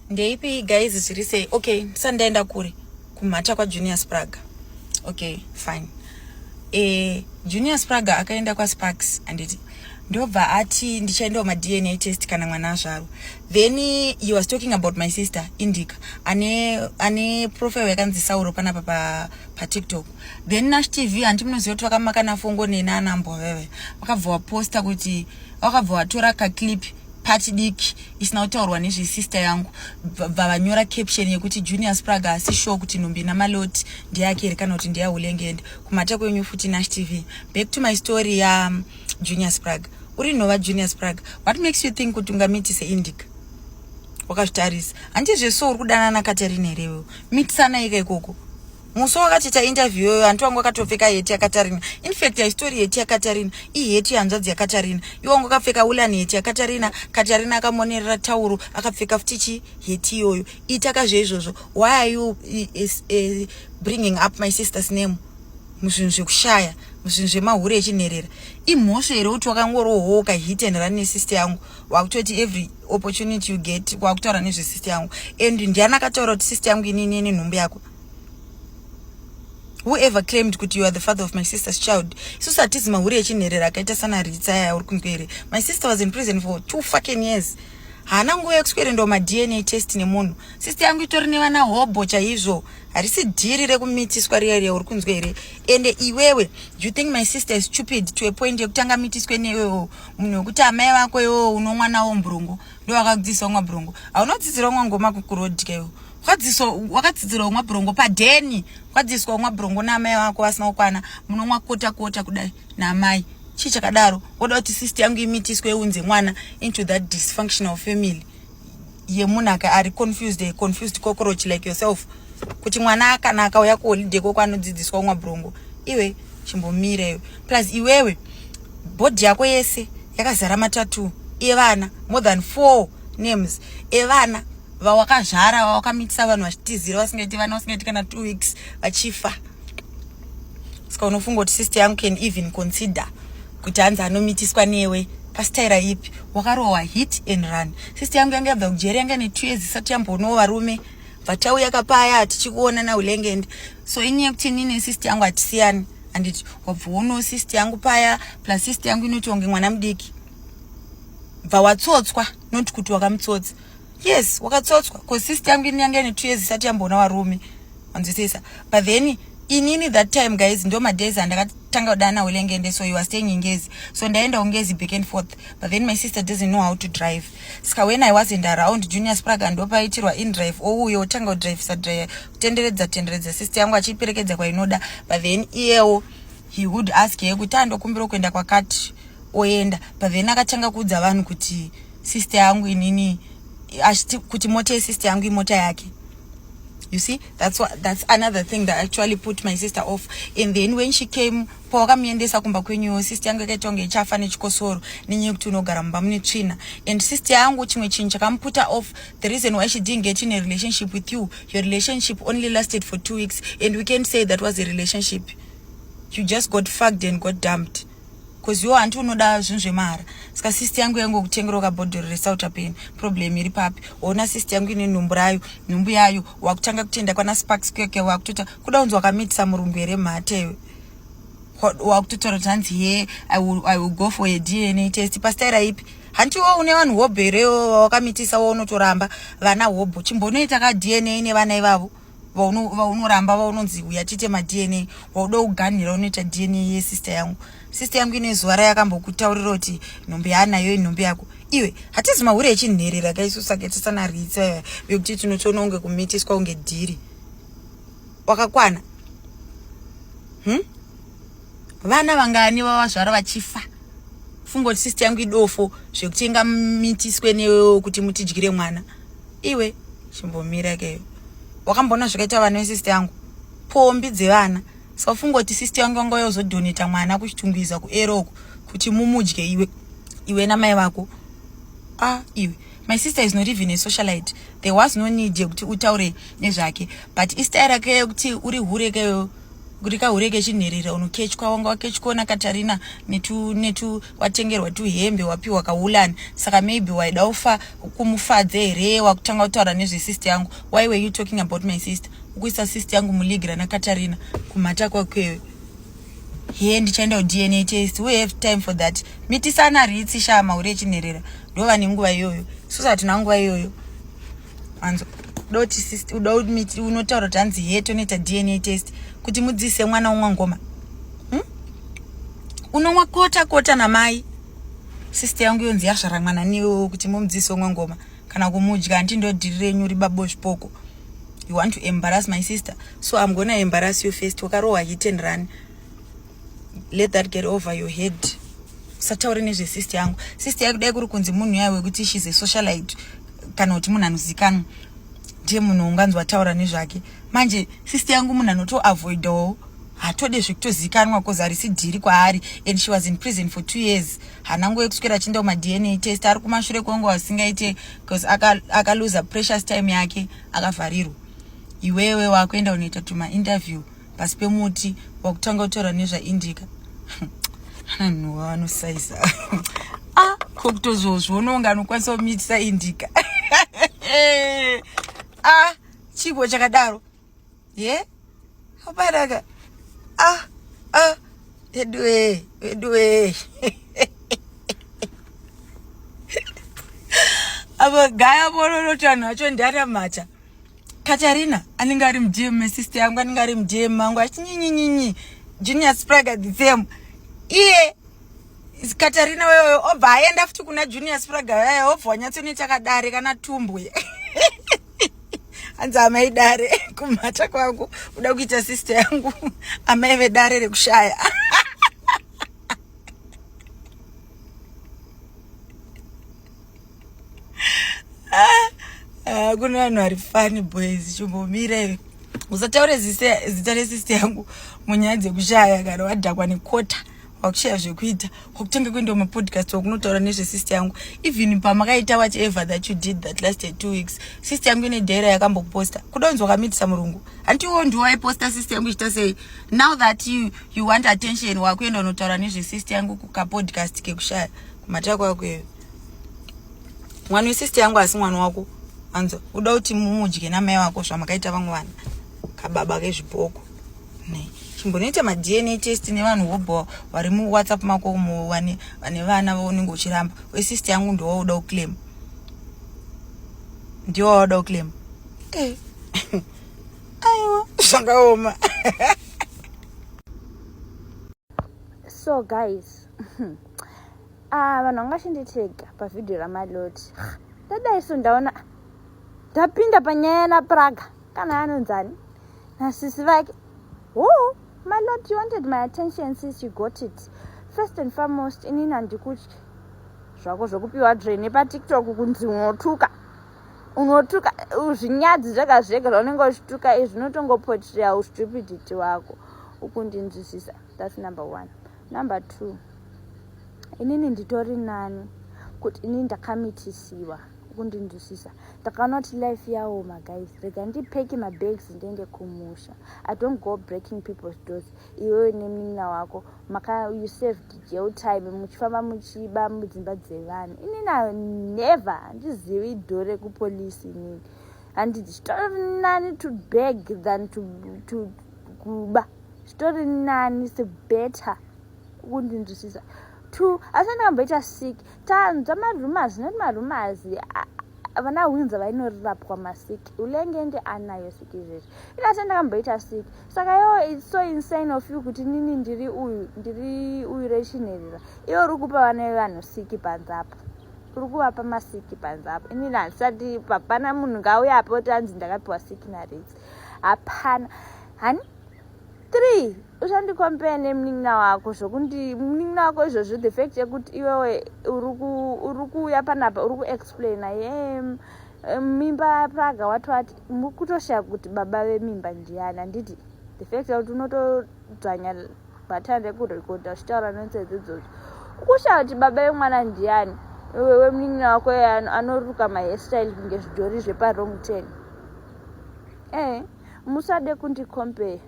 ndeipi guys zviri sei okay sandaenda kure kumhata kwajunior spraga okay fine e, junior spraga akaenda kwasparks anditi ndobva ati ndichaendawo madna test kana mwana azvarwa then he was talking about my sister indica ane ane profile yakanzi sauro panapa pa, pa tiktok then nash tv hanti munoziva kuti vakamakana fongo neni anambwa veve vakabva waposta kuti vakabva watora kaclip pati diki isina kutaurwa nezvesister yangu bva vanyora caption yekuti junior spraga asi show kuti nhumbi namaloti ndeyake here kana kuti ndeyahulengende kumhata kwenyu futi nash tv back to my story ya um, junior spraga uri nhova junior spraga what makes you think kuti ungamitise indica wakazvitarisa handizve so uri kudanana katarina here iwewo mitisana ika ikoko musi wakatiita interview yoyo hanti wangu akatopfeka heti yakatarina infact haistory heti yakatarina iheti yehanzvadzi yakatarina iwe wangu akapfeka ulani heti yakatarina katarina akamonerera tauro akapfeka futi chi heti iyoyo itaka zveizvozvo why are you is, uh, bringing up my sister's name muzvinhu zvekushaya muzvinhu zvemahure echinherera imhosva here kuti wakangorohooka hit and run nesister yangu wakutoti every opportunity you get wakutaura nezvesister yangu and ndiani akataura kuti sister yangu inini ine nhumbu yako whoever claimed kuti you are the father of my sister's child isusu hatizi mahuri echinherera akaita sana ritsa aya uri kumberi my sister was in prison for two fucking years haana nguva yekuswerendwa madna test nemunhu sister yangu itori nevana hobho chaizvo harisi dhiri rekumitiswa riya riya uri kunzwa here ende iwewe you think my sister is stupid to a point yekutanga mitiswe newewo munhu wekuti amai vako iwewo unomwana womburungu ndo wakadzidzisa umwa brongo aunodzidzira umwa ngoma kukurodkeyo kwadziso wakadzidzira umwa brongo padheni kwadzidziswa umwa brongo naamai wako vasina kukwana munomwa kota kota kudai naamai chii chakadaro woda kuti sisti yangu imitiswe iunze mwana into that dysfunctional family yemunhu aka ari confused a confused cockroach like yourself kuti mwana kana akauya kuholiday koko anodzidziswa umwa brongo iwe chimbomireyo plus iwewe bhodhi yako yese yakazara matatu evana more than four names evana vawakazvara vawakamitisa vanhu vachitizira vasingaiti vana vasingaiti kana two weeks vachifa ska unofunga kuti sister yangu can even consider kuti hanzi anomitiswa newe pasitaira ipi wakarohwa hit and run sister yangu yanga yabva kujeri yanga ne two years isati yambonowo varume vatauya kapaya tichikuona naulengende so inyaya yekuti ini nesist yangu hatisiyani handiti wabva wono sist yangu paya plus sist yangu inoti wange mwana mudiki bva watsotswa not kuti wakamutsotsa yes wakatsotswa bcause sist yangu ini yanga ine two years isati yamboona varume wanzwisisa but then inini that time guys ndo madays andakatanga kudana ulengende so you are staying ingezi so ndaenda ungezi back and forth but then my sister doesn't know how to drive ska when i wasn't around junior spraga ndopaitirwa indrive ouyo otanga kudrivisa drive kutenderedza tenderedza sister yangu achiiperekedza kwainoda but then iyewo he would ask ye kuti andokumbira kuenda kwakati oenda but then akatanga kuudza vanhu kuti sister yangu inini achiti kuti mota yesister yangu imota yake you see that's what, that's another thing that actually put my sister off and then when she came pawakamuendesa kumba kwenyuwo sister yangu yakaita kunge ichafa nechikosoro nenyaya yekuti unogara mumba mune tsvina and sister yangu chimwe chinhu chakamuputa off the reason why she didn't get in a relationship with you your relationship only lasted for two weeks and we can't say that was a relationship you just got fucked and got dumped bcause iwo hanti unoda zvinhu zvemahara saka sisti yangu yangu kutengera ukabhodhoro resouta pain problem iri papi ona sisti yangu ine nhumbu rayo nhumbu yayo wakutanga kutenda kwana sparks keke wakutota kuda unzi wakamitisa murungu here mhatewe wakutotaura kuti hanzi he I will, i will go for a dna test pastaira ipi hanti wo une vanhu hobho here wakamitisa wo unotoramba vana hobho chimbonoita ka dna nevana ivavo vaunoramba vaunonzi uya tiite madna wauda kuganhira unoita dna yesister yangu sister yangu ine zuva rayakambokutaurira kuti nhombe yaanayo inhombe yako iwe hatizi mahure echinherera kaisusa ketisana ritsa vekuti tinotoona unge kumitiswa unge dhiri wakakwana hmm? vana vangani vavazvara vachifa fungo kuti sister yangu idofo zvekutenga mitiswe newewo kuti mutidyire mwana iwe chimbomira ikeyo wakamboona zvakaita vana vesister yangu pombi dzevana so fungo kuti sister yangu yanga yozodhoneta mwana kuchitungwiza kueroko kuti mumudye iwe iwe namai vako a ah, iwe my sister is not even a socialite there was no need yekuti utaure nezvake but istaya rake yekuti uri hure keyo kuti kahure kechinherera unokechwa wanga wakechwa ona katarina netu netu watengerwa tuhembe wapiwa kaulani saka maybe waida ufa kumufadze here wakutanga kutaura nezvesister yangu why were you talking about my sister ukuisa sister yangu muleague rana katarina kumhata kwakwewe hee ndichaenda kudna test we have time for that mitisana ritsi shaa mahure echinherera ndova nenguva iyoyo susa hatina nguva iyoyo anzo doti uda unotaura kuti hanzi hee tonoita dna test kuti mudzise mwana umwa ngoma hmm? unomwa kota kota namai sister yangu yonzi yazvara mwana niwewo kuti mumudzise umwa ngoma kana kumudya hanti ndodhiri renyu ribabo zvipoko you want to embarrass my sister so i'm gonna embarrass you first wakarohwa hit and run let that get over your head usataure nezvesister yangu sister yake dai kuri kunzi munhu yaye wekuti shes a socialite kana kuti munhu anozikanwa ndiye munhu unganzwa taura nezvake manje sister yangu munhu anotoavoidawo hatode zvekutozikanwa bcause harisi dhiri kwaari and she was in prison for two years hana nguva yekuswera achienda kumadna test ari kumashure kwenguva asingaite bcause akaluza aka precious time yake akavharirwa iwewe wakuenda unoita tumainterview pasi pemuti wakutanga kutaura nezvaindika anhu vanosaiza ah, ko kutozozviona unga anokwanisa kumitisa indika ah, chigo chakadaro ye abaraka ah ah veduwe veduwe avo gaya vororoti vanhu vacho ndiaramata katarina anenge ari mudm mesister yangu anenge ari mudm mangu achinyinyinyi junior spraga the same iye katarina weyoyo obva aenda futi kuna junior spraga yaye obva wanyatsoneta kadare kana tumbwe hanzi amai dare kumhata kwangu uda kuita sister yangu amai vedare rekushaya ah, kune vanhu vari fani boys chimbomire usataure zita resister yangu munyaya dzekushaya kana wadhakwa nekota wakushaya zvekuita kwakutanga kuendawo mapodcast wakunotaura nezvesister yangu even pamakaita what ever that you did that last two weeks sister yangu ine daira yakamboposta kuda unzi wakamitisa murungu hanti iwo ndiwo aiposta sister yangu ichita sei now that you, you want attention wakuenda unotaura nezvesister yangu kukapodcast kekushaya kumatira kwako iyo mwana wesister yangu asi mwana wako anzo uda kuti mumudye namai wako zvamakaita vamwe vana kababa kezvipoko chimbonoita madna test nevanhu vobho vari muwhatsapp mako umo vane vana vaunenge uchiramba wesist yangu ndowauda uclaim ndiwo wauda uclaim eh. aiwa zvakaoma so guys ah, vanhu vanga chinditega pavhidhiyo ramaloti ndadai so ndaona ndapinda panyaya yanapraga kana anonzani nasisi vake wo my lord you wanted my attention sis you got it first and foremost inini handikutyi zvako zvokupiwa dre nepatiktok kunzi unotuka unotuka zvinyadzi zvega zvega zvaunenge uchituka izvi zvinotongopotrea ustupidity wako ukundinzwisisa thats number one number two inini nditori nani kuti inini ndakamitisiwa kundinzwisisa ndakaona kuti life yawo maguys rega ndipeki mabags ndiende kumusha i don't go breaking people's doors iwewe nemunin'ina wako maka you saved jail time muchifamba muchiba mudzimba dzevanhu inina never handizivi do rekupolisi inini handi zvitori nani to beg than to, to kuba zvitori nani se better kundinzwisisa two asi ndingamboita sick tanzwa marumors not marumors vana winza vainorapwa masiki ulengenge anayo siki izvezvi inase ndakamboita siki saka yo its so insane of you kuti nini ndiri uyu ndiri uyu rechinherera iwe uri kupa vana vevanhu siki panze apo uri kuvapa masiki panze apo inini handisati papana munhu ngauya apo tanzi ndakapiwa siki naridzi hapana hani three uchandikompea nemunin'ina wako zvokuti munin'ina wako izvozvo the fact yekuti iwewe uri kuuya panapa uri kuexplaina ye mimba yapraga wati wati kutoshaya kuti baba vemimba ndiyani handiti the fact yekuti unotodzvanya batan rekurekodha uchitaura nonsezi idzodzo ukushaya kuti baba vemwana ndiyani wewe munin'ina wako anoruka mahairstyle kunge zvidhori zveparong ten ee eh. musade kundi compare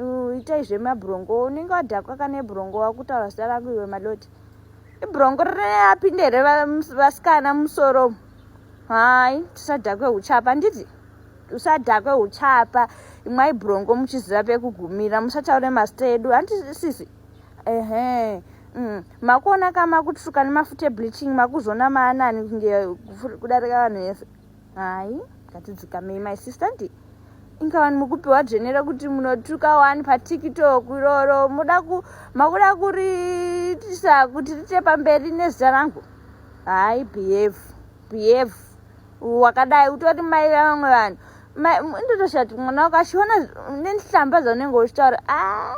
uh, itai zvemabrongo unenge wadhakwa kana ibrongo wakutaura zita rangu iwe madoti ibrongo rinapinde here vasikana musoro hai tisadhakwe uchapa nditi usadhakwe uchapa imwai brongo muchiziva pekugumira musataure mazita edu handiti sisi ehe mm. makuona ka makutsvuka nemafuta ebleaching makuzona maanani kunge kudarika vanhu vese Hai, ngatidzikamei my sister ndi inga vanhu mukupiwa dzvene rekuti munotuka wani patiktok iroro muda ku makuda kuriitisa kuti riite pamberi nezita rangu hayi behave behave wakadai utori mai vevamwe vanhu ndotoshati mwana wako achiona nenhlamba dzaunenge uchitaura a ah.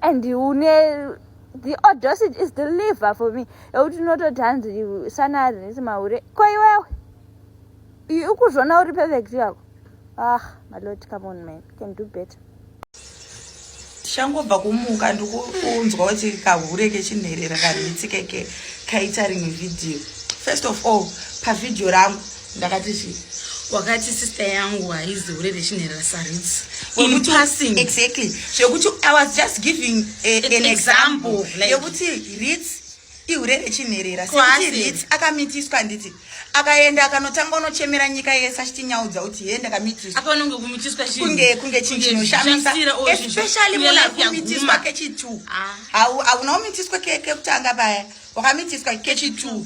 and une the audacity is the liver for me yekuti unototi hanzi sanari nisi mahure ko iwewe ukuzvona uri perfect yako ah malot come on man can do better tichangobva kumuka ndikunzwa kuti kahure kechinherera kanhitsikeke kaita rimwe vhidhiyo first of all pavhidhiyo rangu ndakati chii wakati sister yangu haizi hure rechinherera saruts impassing exactly zvekuti i was just giving a, an, an example yekuti like, rits ihure rechinherera sekuti rits akamitiswa handiti akaenda akanotanga unochemera nyika yese achitinyaudza kuti he ndakamitiswakunge kunge chinhu chinoshamisa especially munhu akumitiswa kechitu ah. hauna umitiswa kekutanga paya wakamitiswa kechitu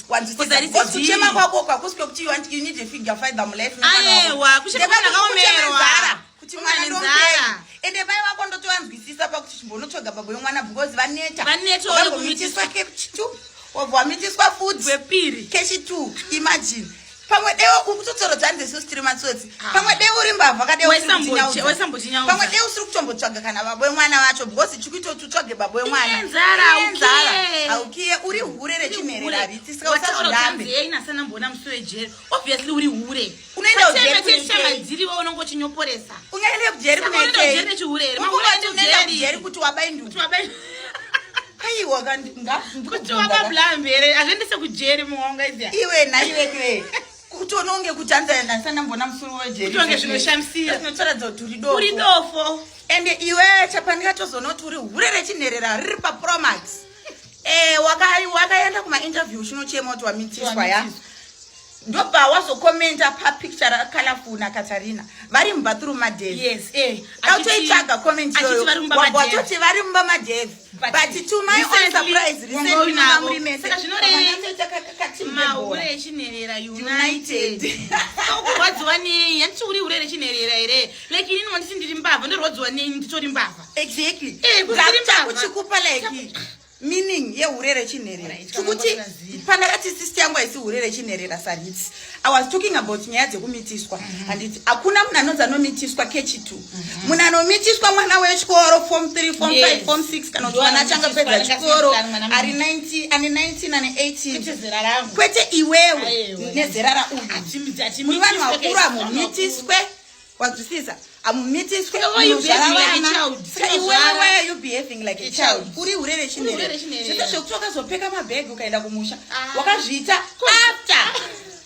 kuchema kwako kwakusi kwekuti you need a figure fiber mulife ayewa kuchemaakaomerwa kuti mwana ndombera ende pai vako ndotovanzwisisa pakuti chimbonotsvaga baba yomwana because vaneta vanetomitiswa kechitu wabva wamitiswa fudzi wepiri kechitu imagine pamwe deo uri kutotsorodzani zvesusu tiri matsotsi ah. pamwe deo uri mbavha kadeopamwe deo usiri kutombotsvaga kana baba wemwana vacho because chikuitoti utsvage baba wemwanaenzara aukiye uri hure rechinhereravitisika usazorambeainasanamboona musi wejeri obviously uri hure unoendaujerichamadzirio unongochinyoporesa ungaenda kujeri kunaikei unoendaujeri kuti wabainduti aiwa kuti wakabulaya mvere azviendese kujeri muonga izia iwe naiwekwe kuti unonge kuti anzandandisanamboona musuru wejeritonge zvinoshamisira zvinotaradza kuti uri dofo uri dofo ende iwe chapanika tozoona kuti uri hure rechinherera riri papromax e, wakaenda kumainterview chinochema kuti wamitiswa ya ndobva wazokomenta papicture rakalaful nakatarina vari mubathroom madevautoitsvaga eh, komentiyowatoti vari mumba madev but to my own surprise recentlyamuri mesehure echinherera united kurwadziwa nei handiti uri hure rechinherera here like inini wanditi ndiri mbavha ndorwadziwa nei nditori mbavha exactly eh, kuchikupa like meaning yehure rechinherera tikuti pandakati sisti yangu haisi hure rechinherera sarits i was talking about nyaya dzekumitiswa mhm. handiti hakuna munhu anonzi anomitiswa kechitu mhm. munhu anomitiswa mwana wechikoro form 3 form 5 form 6 kana kuti mwana achanga pedza chikoro ari 9 ane 19 ane 18 kwete iwewe nezera rauyu muri vanhu vakuru hamumitiswe wanzwisisa amumitiswe uri hure rechinere zvese zvekuti wakazopfeka mabhegi ukaenda kumusha ah. wakazviita after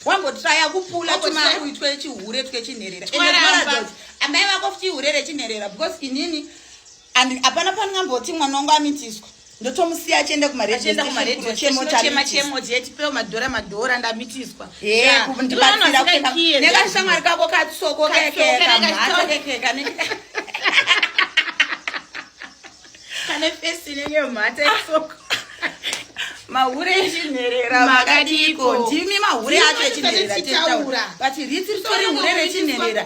wambotraya kupula tumakuitwe chihure twechinherera amai vako futi ihure rechinherera because inini and hapana pandingamboti mwana wangu amitiswa ndotomusiya achienda kumarediochemotiemotipewo madhora madhora ndamitiswa nekashamwari kako katsoko kekeka kane fesi inenge mhata isoko mahure echinherera makadiko ndimi mahure acho echinherera but riti ritori hure rechinherera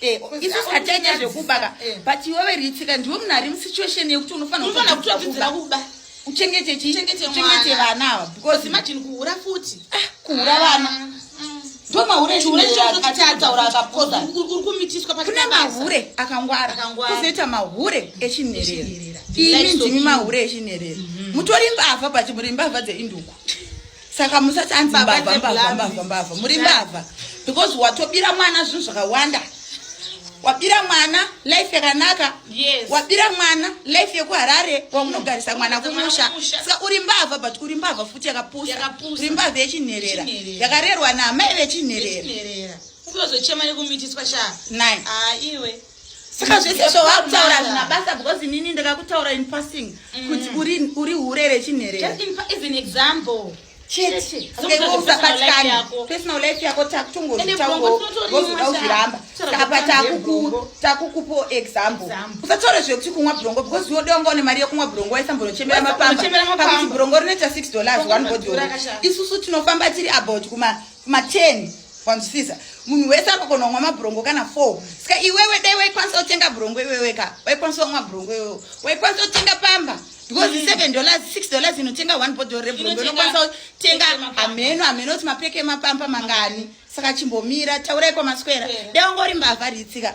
Eh, isu zikatanya zvekubaka eh. but iwewe ritsika ndiwe munhu ari musituation yekuti unofanira kutodzidzira kuba uchengete chii uchengete vana ava because imagine kuhura futi ah, kuhura vana ah, mm. ndomaureatauraakune mahure akangwara kuzoita mahure echinherera imi ndimi mahure echinherera mhm. mutori mbavha but muri mbavha dzeinduku saka musati anzi mbavha mbavha mbavha mbavha muri mbavha because watobira mwana zvinhu zvakawanda wabira mwana life yakanaka yes. wabira mwana life yekuharare kwamunogarisa mwana kumusha saka uri mbavha but uri mbavha futi yakapusa uri mbavha yechinherera yakarerwa naamai vechinherera unozochema nekumitiswa shaa nai ah, iwe saka zvese zvawakutaura zvina basa because inini ndakakutaura in passing mm. kuti uri uri hure rechinhere just in as an example chete okay usabatikani personal life yako takutongozviramba apa takuku takukupo example usataure zvekuti kumwa brongo because iwe dewanga une mari yekumwa brongo waisambonochembera mapamba pakuti brongo rinoita 6 dollars one body isusu tinofamba tiri about kuma ma 10 wanzwisisa munhu wese akakona kumwa mabhurongo kana 4 ska iwewe dai waikwanisa kutenga bhurongo iwewe ka waikwanisa kumwa bhurongo iwewe waikwanisa kutenga pamba because mm. seven dollars six dollars inotenga one bottle rebhurongo inokwanisa kutenga hameno hameno kuti mapeke emapamba mangani saka chimbomira taurai kwamaswera dai ungori mbavha ritsika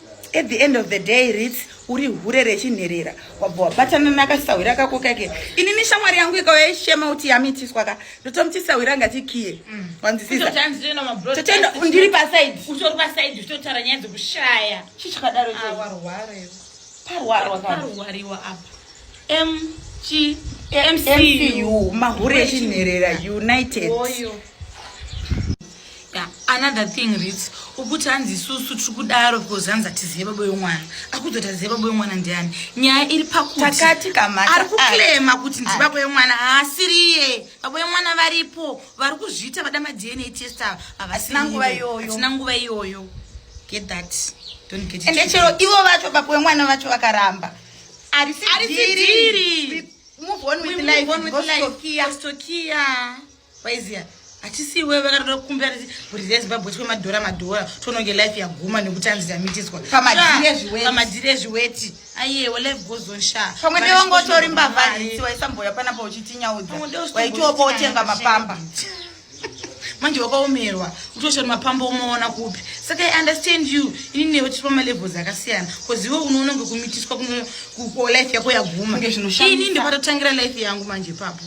at the end of the day rits uri hure rechinherera wabva wabatana nakasahwira kako kake inini shamwari yangu ikauya ishema kuti yamitiswa ka ndotomuti sahwira ngati kiye mm. wanzisisandiri pasaidi utori pasaidi uchitotara nyaya dzekushaya chii chakadaro ah, parwarwarwarwarwarwarwa apa mg mcu mahure echinherera united Oyo. Yeah, another thing rits ukuti hanzi isusu tiri kudaro because hanzi hatizive baba yomwana akuzoti azive baba yomwana ndiani nyaya iri pakutiari kuklema kuti ndibaba yomwana haasiriye baba yomwana varipo vari kuzviita vada madna test ava havasina nguva iyoyo get that don't get ende chero ivo vacho baba yomwana vacho vakaramba arisidhiri move on with life, move on with life. Stokia. Stokia. waiziva hatisi iwe vakatoda kukumbira kuti bhurizai zimbabwe twe madhora madhora tononge life yaguma nekuti anzi yamitiswa pamadhiri ezviweti ayewa life goes on sha pamwe ndewongotori mbavha isi waisamboya panapa uchitinyaudza waitiopa otenga mapamba manje wakaomerwa utoshona mapambo umaona kupi saka i understand you ini newe tiri pamalevels akasiyana bcause iwe unoononge kumitiswa kulife yako yaguma ini ndipatotangira life yangu manje ipapo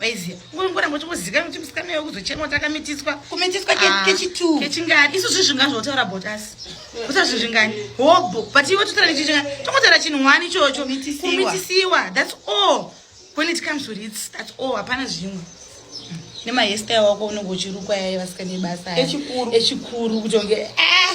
vaiziva ngoramba uchingozikana kuti musikana iwe kuzochemwa takamitiswa kumitiswa ah, kechitu kechingani isu zvi zvingani zvotaura about us kusa zvi zvingani hobho but iwe totaura nechichinga tongotaura chinhu wani ichocho kumitisiwa that's all when it comes to rits that's all hapana zvimwe nemahestai wako unenge uchirukwa yaye vasikane basa echikuru echikuru kutonge ah!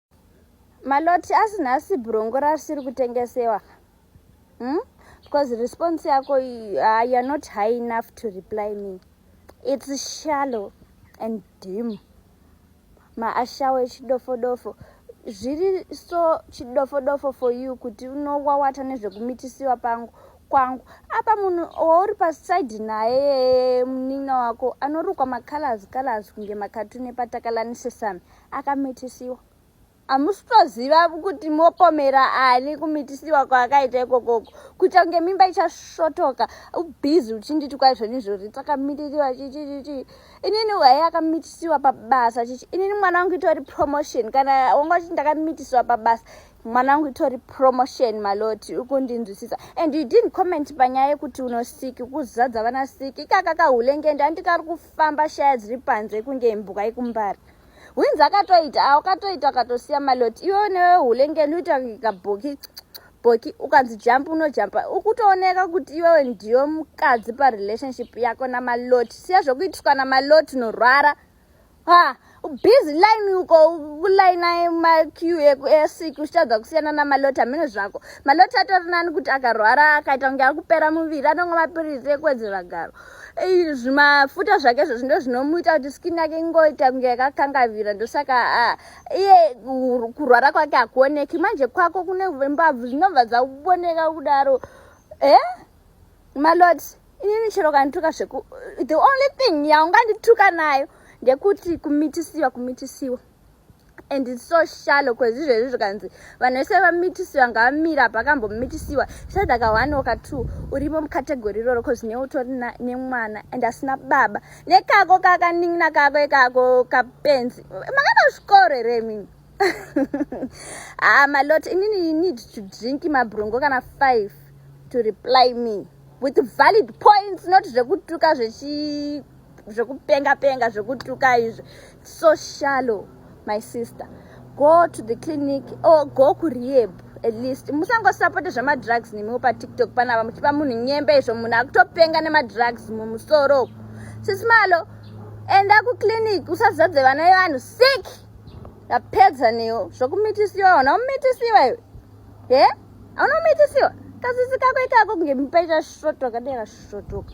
maloti asi nhasi brongo rasiri kutengesewa ka hmm? because response yako uh, you're not high enough to reply me it's shallow and dim maashawo echidofodofo zviri so chidofodofo for you kuti unowawata nezvekumitisiwa pangu kwangu apa munhu wauri paside naye munin'ina wako anorukwa macolors colors kunge makatune patakalanisesami akamitisiwa hamusi toziva kuti mopomera ani kumitisiwa kwaakaita ikokoko kuita kunge mimba ichasvotoka ubhizi uchinditi kwai zvenyu izvozvi takamitisiwa chichichichi inini waye akamitisiwa pabasa chichi inini mwana wangu itori promotion kana wanga uchiti ndakamitisiwa pabasa mwana wangu itori promotion maloti ukundinzwisisa and you didn't comment panyaya yekuti unosiki kuzadza vana siki ikaka kahulengende andikari kufamba shaya dziri panze kunge mbuka ikumbari hwinzi akatoita a ukatoita ukatosiya maloti iwe newe hulengeni uita kuika bhoki bhoki ukanzi jampa unojampa ukutooneka kuti iwewe ndiyo mukadzi parelationship yako namaloti siya zvokuitiswa namaloti unorwara ha busy line uko kulaina maqu easik uchitadza kusiyana namaloti hameno zvako maloti atori nani kuti akarwara akaita kunge akupera muviri anongo mapirizi ekuwedzera garo zvimafuta zvake izvozvo ndo zvinomuita kuti skin yake ingoita kunge yakakangavira ndosaka ah, iye kurwara kwake hakuoneki manje kwako kune mbabvu zvinobva dzakuoneka kudaro e malot inini chero kandituka zveku the only thing yaungandituka nayo ndekuti kumitisiwa kumitisiwa and its so shallow cause izvezvi zvikanzi vanhu vese vamitisiwa ngavamira apa akambomitisiwa saida ka one oka two urimo mukategori iroro cause ne utori nemwana and asina baba nekako kakanin'ina kako ikako kapenzi makana zvikoro here imini ah malot inini you need to drink mabrongo kana five to reply me with valid points not zvekutuka zvechi zvekupenga penga zvekutuka izvi so shallow my sister go to the clinic or go kurehab at least musangosapote zvemadrugs nemiwo patiktok panapa muchipa munhu nyembe izvo munhu akutopenga nemadrugs mumusoro sisi malo enda kuclinic usazadze vana yevanhu sick yapedza newo zvokumitisiwa ona umitisiwa iwe he auna umitisiwa kasisi kako ikako kunge mipaita shotoka dera shotoka